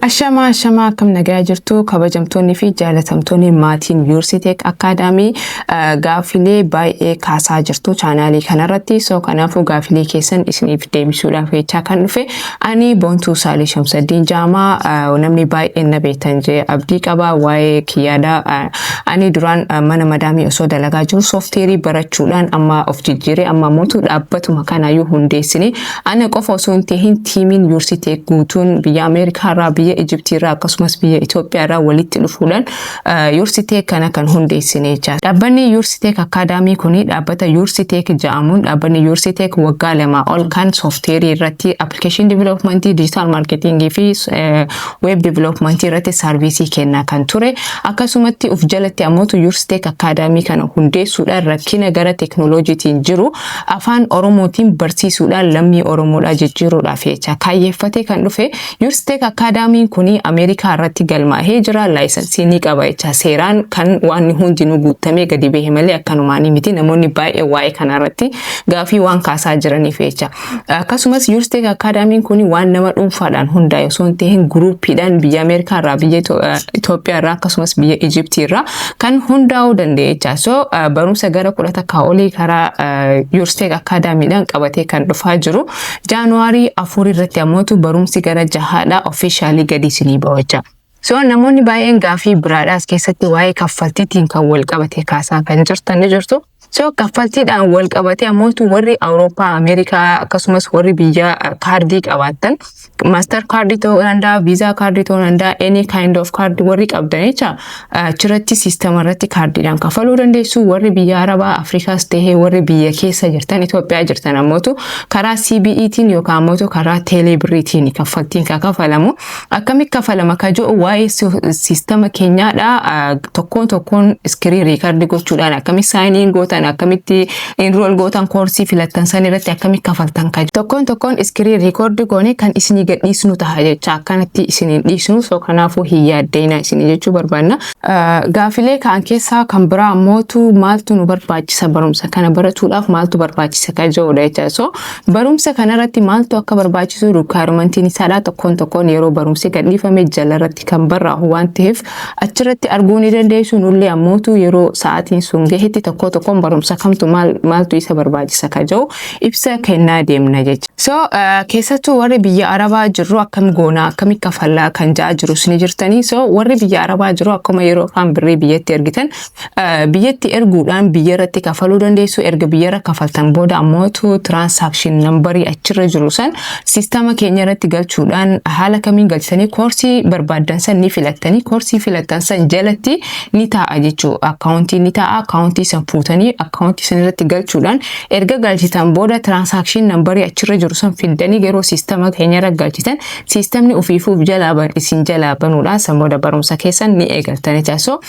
Ashamaa ashamaa akkam nagaa jirtu kabajamtoonni fi jaalatamtoonni maatiin Yuursiteek Akaadaamii gaaffilee baay'ee kaasaa jirtu chaanaalii kanarratti soo kanaafuu gaaffilee keessan isiniif deebisuudhaaf jechaa kan dhufe ani Boontuu Saalii Shamsaddiin Jaamaa namni baay'een na beektan jee abdii qaba waa'ee kiyyaadha ani duraan mana madaamii osoo dalagaa jiru soofteerii barachuudhaan amma of jijjiiree amma mootu dhaabbatuma kanaayyuu hundeessine Ana qofa osoo hin tahin tiimiin Yursiteek guutuun biyya Ameerikaa irraa, biyya Ijiptii irraa akkasumas biyya Itoophiyaa irraa walitti dhufuudhaan Yursiteek kana kan hundeessine jechaadha. Dhaabbanni Yursiteek Akkaadaamii kuni dhaabbata Yursiteek ja'amuun dhaabbanni Yursiteek waggaa lamaa ol kan soofteerii irratti appilikeeshinii diviloopimantii, dijitaal maarkeetiingii fi weeb diviloopimantii irratti saarviisii kennaa kan ture. Akkasumatti of jalatti ammootu Yursiteek Akkaadaamii kana hundeessuudhaan rakkina gara teeknooloojiitiin jiru Afaan Oromootiin barsiisuudhaan lammii Oromoodhaa jijjiiruudhaaf jecha kaayyeeffatee kan dhufe Yurstek Akkaadaamiin kun Ameerikaa irratti galmaahee jira, laayisansii ni qaba jecha seeraan kan waanni hundinuu guuttamee gadi bahe malee akkanumaanii miti. Namoonni baay'een waa'ee kanaa irratti gaafii waan kaasaa jiraniif jecha. Akkasumas Yurstek Akkaadaamiin kun waan nama dhuunfaadhaan hundaa'e osoo hin tahin guruuppiidhaan biyya Ameerikaa irraa, biyya Itoophiyaa irraa akkasumas biyya Ijiptii irraa kan hundaa'uu danda'e jecha. So barumsa gara kudha takkaa olii karaa Yuursteek Akaadaamiidhaan qabatee kan dhufaa jiru. Jaanuwaarii afur irratti ammootu barumsi gara jahaadhaa ofiishaalii gadi isinii ba'u jecha. So namoonni baay'een gaafii biraadhaas keessatti waa'ee kaffaltiitiin kan wal qabate kaasaa kan jirtan ni jirtu. So kaffaltiidhaan wal qabatee ammoo warri Awurooppaa, Ameerikaa akkasumas warri biyya kaardii qabaattan maaster kaardii ta'uu danda'a, viizaa kaardii ta'uu danda'a, any kind of card warri qabdan jecha achirratti siistama irratti kaardiidhaan kafaluu dandeessu. Warri biyya Arabaa, Afrikaas ta'ee warri biyya keessa jirtan Itoophiyaa jirtan ammootu karaa CBEtiin yookaan ammootu karaa teelee birriitiin kaffaltiin kan kafalamu. Akkami kafalama ka jedhu waa'ee siistama keenyaadha. Tokkoon tokkoon iskirii riikardi gochuudhaan akkami saayiniin gootan akkamitti inrool gootan koorsii filattan san irratti akkami kafaltan ka Tokkoon tokkoon iskirii riikardi goone kan isinii gadhiisnu taha jecha akkanatti isiniin dhiisnu soo kanaafuu hin yaaddeeyna isinii jechuu barbaanna. Gaafilee ka'an keessaa kan biraa ammootu maaltu nu barbaachisa barumsa kana baratuudhaaf maaltu barbaachisa ka jedhudha jecha so Barumsa kanarratti maaltu akka barbaachisu rikwaayiromantiin isaadhaa tokkoon tokkoon yeroo barumsi gadhiifame jalarratti kan barraa'u waan ta'eef achirratti arguu ni dandeessu nullee ammootu yeroo sa'aatiin sun gahetti tokkoo tokkoon barumsa kamtu maaltu isa barbaachisa ka jedhu ibsa kennaa deemna jecha. So uh, keessattuu warri biyya Arabaa jirru akkam goonaa akkami kafallaa kan ja'a jirus ni jirtanii so warri biyya Arabaa jiru akkuma yeroo afaan birrii biyyatti ergitan biyyatti erguudhaan biyya irratti kafaluu dandeessu erga biyya irra kafaltan booda ammootu tiraansaakshin nambarii achirra jiru san siistama keenya irratti galchuudhaan haala kamiin galchitanii koorsii barbaaddan san ni filattanii koorsii filattan san jalatti ni taa'a jechuu akkaawuntii ni taa'a akkaawuntii san fuutanii akkaawuntii san irratti galchuudhaan erga galchitan booda tiraansaakshin nambarii achirra jiru san fiddanii yeroo siistama keenya irra galchitan siistamni ofiifuuf jalaa isin jalaa banuudhaan san booda barumsa keessan ni eegaltanii taasisoo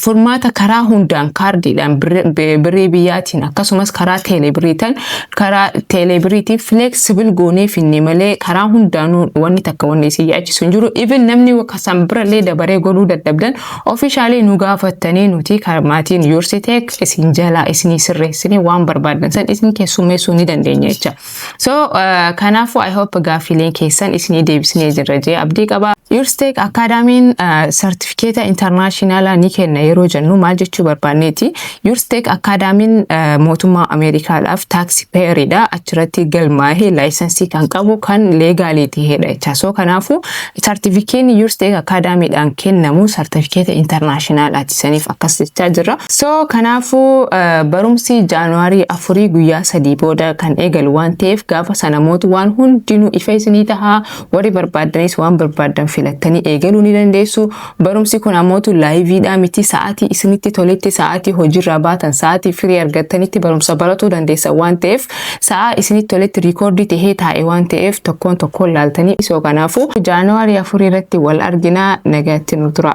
furmaata karaa hundaan kaardiidhaan birrii biyyaatiin akkasumas karaa teeleebiriitan karaa teeleebiriitiin fileeksibil goonee finne malee karaa hundaanuu wanni takka wanni isin yaachisu hin jiru. Even namni kasan birallee dabaree godhuu dadhabdan ofiishaalee nu gaafattanii nuti maatiin yuursiteek isin jalaa isinii sirreessinee waan barbaadan san isin keessummeessuu ni dandeenya jecha. So uh, kanaafuu I hope gaaffiileen keessan isinii deebisnee jirra jee abdii qaba. Yurstek Akaadaamiin sartifikeeta uh, intarnaashinaalaa ni kenna yeroo jennu maal jechuu barbaanneeti. Yurstek Akaadaamiin uh, mootummaa Ameerikaadhaaf taaksi peeridha achirratti galmaa'ee laayisansii kan qabu kan leegaalii ta'edha jecha. So kanaafuu Sartifikeenni Yurstech Academy dhaan kennamu sartifikeeta internaashinaalaati. Saniif akkas jechaa jirra. So kanaafuu barumsi January afurii guyyaa sadii booda kan eegalu waan ta'eef gaafa sana mootu waan hundinuu ifa isinii taha. Warri barbaaddanis waan barbaaddan filattanii eegaluu ni dandeessu. Barumsi kun amootu laayiviidhaa miti sa'aatii isinitti toletti sa'aatii hojiirraa baatan sa'aatii firii argattanitti barumsa baratuu dandeessan waan ta'eef sa'aa isinitti toletti riikoordii ta'ee taa'e waan ta'eef tokkoon tokkoon laaltanii isoo kanaafuu jaanuwaarii afur irratti wal arginaa nagaatti nu tura.